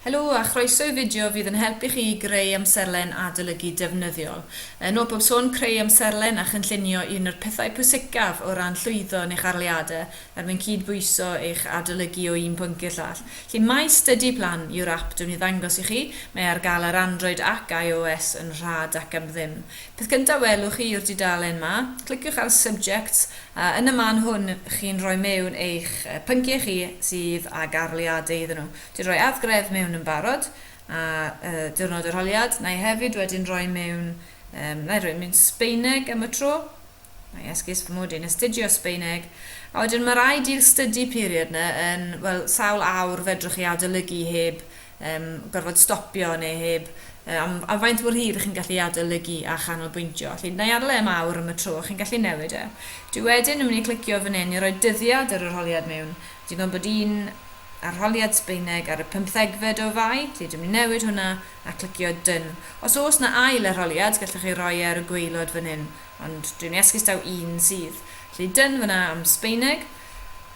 Helo a chroeso i fideo fydd yn help i chi i greu amserlen adolygu defnyddiol. Yn ôl pob sôn, creu amserlen a chynllunio yw un o'r pethau pwysicaf o ran llwyddo yn eich arholiadau er mwyn cyd-bwyso eich adolygu o un pwnc i'r llall. Felly My Study Plan yw'r ap dw i'n ei ddangos i chi, mae e ar gael ar Android ac IOS yn rhad ac am ddim. Peth gyntaf welwch chi yw'r dudalen 'ma. Cliciwch ar Subjects a yn y man hwn chi'n rhoi mewn eich pynciau chi sydd ag arholiadau iddyn nhw. Dwi 'di rhoi adgref mewn yn barod a diwrnod yr holiad. Wna i hefyd wedyn roi mewn, wna i roi mewn Sbaeneg am y tro. Mae esgus fy mod i'n astudio Sbeineg, a wedyn mae rhaid i'r study period yna yn, wel, sawl awr fedrwch chi adolygu heb um, gorfod stopio neu heb uh, am, am faint mor hir chi'n gallu adolygu a chanolbwyntio. Felly, na i adael e am awr am y tro, chi'n gallu newid e. Dwi wedyn yn mynd i clicio fan hyn i roi dyddiad yr arholiad mewn. Dwi'n gwybod bod un arholiad Sbeineg ar y pymthegfed o fai, felly dwi'n mynd i newid hwnna a clicio dyn. Os oes na ail arholiad, gallwch chi roi e ar y gweilod fan hyn. ond dwi'n iasgus daw un sydd. Felly dyn fyna am Sbeineg,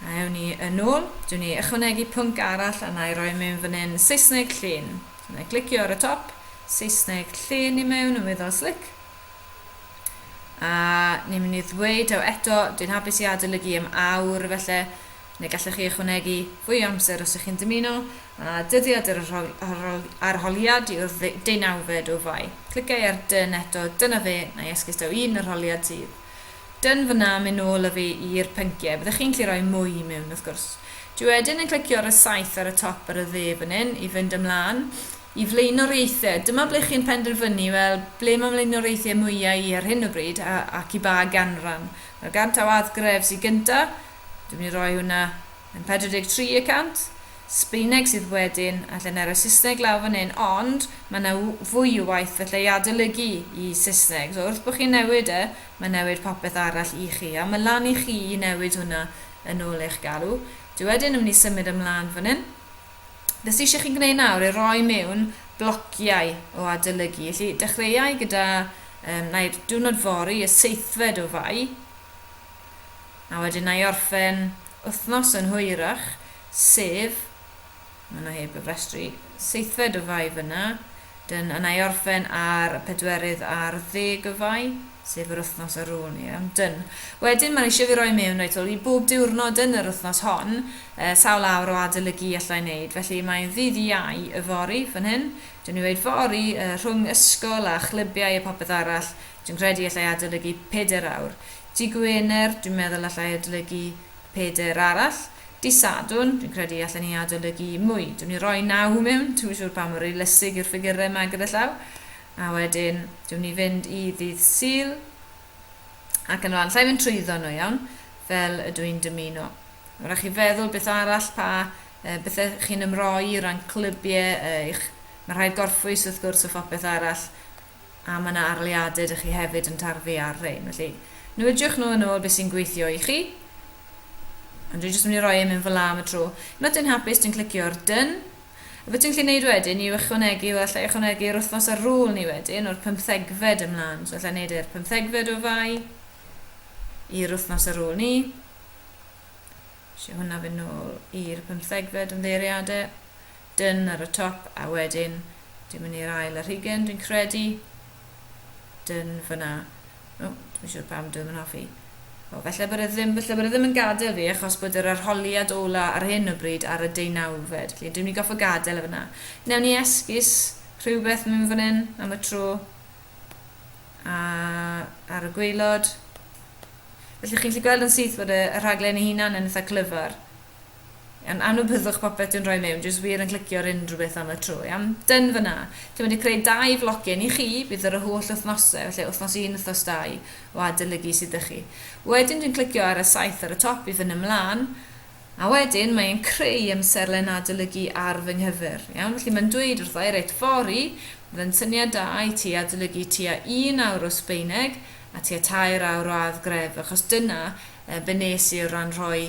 a ewn ni yn ôl, dwi'n ei ychwanegu pwnc arall a na'i roi mewn fan hyn, Saesneg llên. So na'i glicio ar y top, Saesneg llên i mewn yn weddol slic. A ni'n mynd i ddweud taw eto, dwi'n hapus i adolygu am awr felly, Neu gallech chi ychwanegu fwy o amser os ych chi'n dymuno, a dyddiad yr arholiad yw'r deunawfed o Fai. Cliciau ar Done eto, dyna fe, na i esgus daw un arholiad sydd. Done fan'na, mynd nôl â fi i'r pynciau, byddech chi'n gallu rhoi mwy i mewn wrth gwrs. Dwi wedyn yn clicio ar y saeth ar y top ar y dde fan hyn i fynd ymlaen i flaenoriaethau. Dyma ble chi'n penderfynu, wel, ble mae mlaenoriaethau mwyaf i ar hyn o bryd ac i ba ganran. Mae'r ganllaw Add Grefs i gyntaf, Dwi'n mynd i roi hwnna yn 43 y cant. Sbaeneg sydd wedyn, a lle na roi Saesneg lawr fan hyn, ond mae yna fwy o waith felly i adolygu i Saesneg. So wrth bod chi'n newid e, mae'n newid popeth arall i chi, a mae lan i chi i newid hwnna yn ôl eich galw. Dwi wedyn yn mynd i symud ymlaen fan hyn. Beth sydd eisiau chi'n gwneud nawr i roi mewn blociau o adolygu. Felly dechreuau gyda, um, na i'r diwrnod fori, y seithfed o fai, a wedyn wna i orffen wythnos yn hwyrach, sef, maen nhw heb gyfrestru, seithfed o Fai fan'na, dyn, a wna i orffen ar y pedwerydd ar ddeg o Fai, sef yr wythnos ar ôl, ie, dyn. Wedyn, maen nhw eisiau fi roi mewn reit ôl i bob diwrnod yn yr wythnos hon, yy, sawl awr o adolygu i allai wneud, felly mae'n ddydd Iau yfory, fan hyn, dyn ni'n weud fory, yy, rhwng ysgol a chlybiau a popeth arall, Dwi'n credu allai adolygu pedair awr. Dydd Gwener, dwi'n meddwl allai adolygu pedair arall. Dydd Sadwrn, dwi'n credu allen ni adolygu mwy. Dw'n i roi naw mewn, dwi'm yn siŵr pam mor realistig yw'r ffigyrau yma gyda llaw. A wedyn, dw'n ni fynd i ddydd Sul, ac yn rhan, llai fynd trwyddo nhw iawn, fel ydw i'n dymuno. Mae'n rhaid chi feddwl beth arall pa uh, bethau chi'n ymroi o ran clybiau uh, eich... Mae rhaid gorffwys wrth gwrs o phopeth arall. a mae yna arleuadau dych chi hefyd yn tarfu ar rhein, felly nwidiwch nhw yn ôl beth sy'n gweithio i chi. Ond dwi'n jyst mynd i roi e mewn fel am y tro. Unwaith dwi'n hapus, dwi'n clicio ar done. A beth dwi'n gallu gwneud wedyn yw ychwanegu, wel allai ychwanegu yr wythnos ar ôl ni wedyn, o'r pymthegfed ymlaen. So allai wneud e'r pymthegfed o fai i'r wythnos ar ôl ni. Lle hwnna fy nôl i'r pymthegfed ymddeiriadau. Done ar y top a wedyn dwi'n mynd i'r ail ar hugen dwi'n credu. Done fyna. O, oh, dwi'n siŵr pam dwi'n mynd hoffi. O, oh, felly bod e ddim, felly bod e ddim yn gadael fi achos bod yr arholiad ola ar hyn o bryd ar y deunawfed. Felly dwi'n mynd i goffa gadael e fyna. Newn ni esgus rhywbeth mynd fan hyn am y tro. A ar y gweilod. Felly chi'n gallu gweld yn syth bod y, y rhaglen ei hunan yn eitha clyfar. Iawn, a nhw byddwch popeth dwi'n rhoi mewn, jyst wir yn clicio ar unrhyw beth am y tro, iawn? Done fyna. Dwi'n mynd i creu dau flogyn i chi, bydd yr y holl wythnosau, felly wythnos un, wythnos dau, o adolygu sydd â chi. Wedyn dwi'n clicio ar y saith ar y top i fyny ymlaen, a wedyn mae e'n creu amserlen adolygu ar fy nghyfer, iawn? Felly mae'n dweud wrtho i, reit, fori, fydde'n syniad da i ti adolygu tua un awr o Sbeineg a tua tair awr o addgref, achos dyna yy be nes i o ran rhoi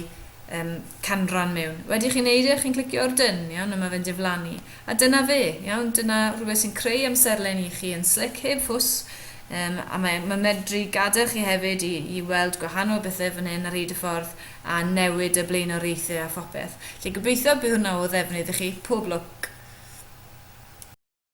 yym canran mewn. Wedi chi'n neud e, chi'n clicio ar Done, iawn, a ma' fe'n diflannu. A dyna fe, iawn, dyna rhywbeth sy'n creu amserlen i chi yn slic, heb fws, yym a mae ma' medru gadael chi hefyd i i weld gwahanol bethe fan hyn ar hyd y ffordd a newid y blaenoriaethe a phopeth. Felly gobeithio bydd hwnna o ddefnydd i chi. Pob lwc!